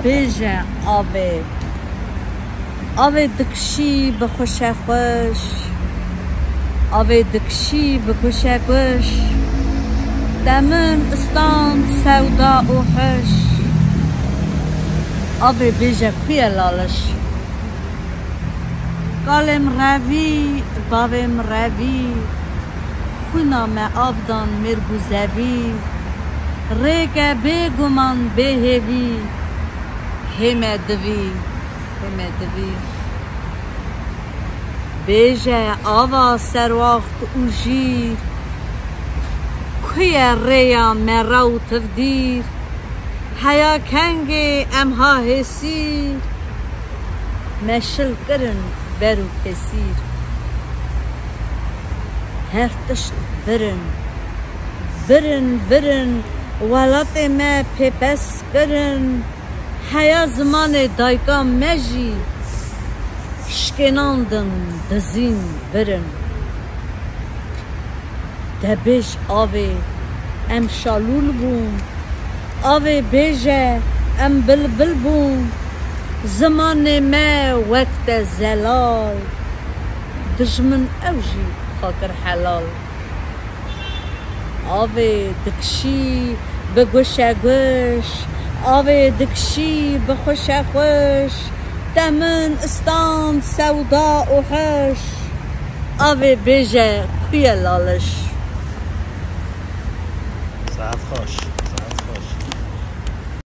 Bêje avê. Avê dikişî bikuşe xweş. Avê dikişî bikuşe guş. Te min stand sewda û huş. Avê bêje ku ye laliş. Kalê min revî, bavê min revî. Xwîna me av dan mêrg û zevî. Rêk e bê guman bê hêvî. Hê me divî, hê me divî. Bêje ava serwaxt û jîr. Ku ye rêya me rew tivdîr. Heya kengê em ha hêsîr. Me şil kirin ber û pesîr. Her tişt virin. Virin virin welatê me pêpes kirin. Heya zimanê dayka me jî şkênandin dizîn virin. Debêj avê em şalûl bûn. Avê bêje em bilbil bûn. Zimanê me wek te zelal. Dijmin ew jî xwe kir helal. Avê dikişî bi guşe guş. Avê dikişî bi xuşe xuş. Te min stand sewda û huş. Avê bêje ku ye laliş. Saet xweş, saet xweş.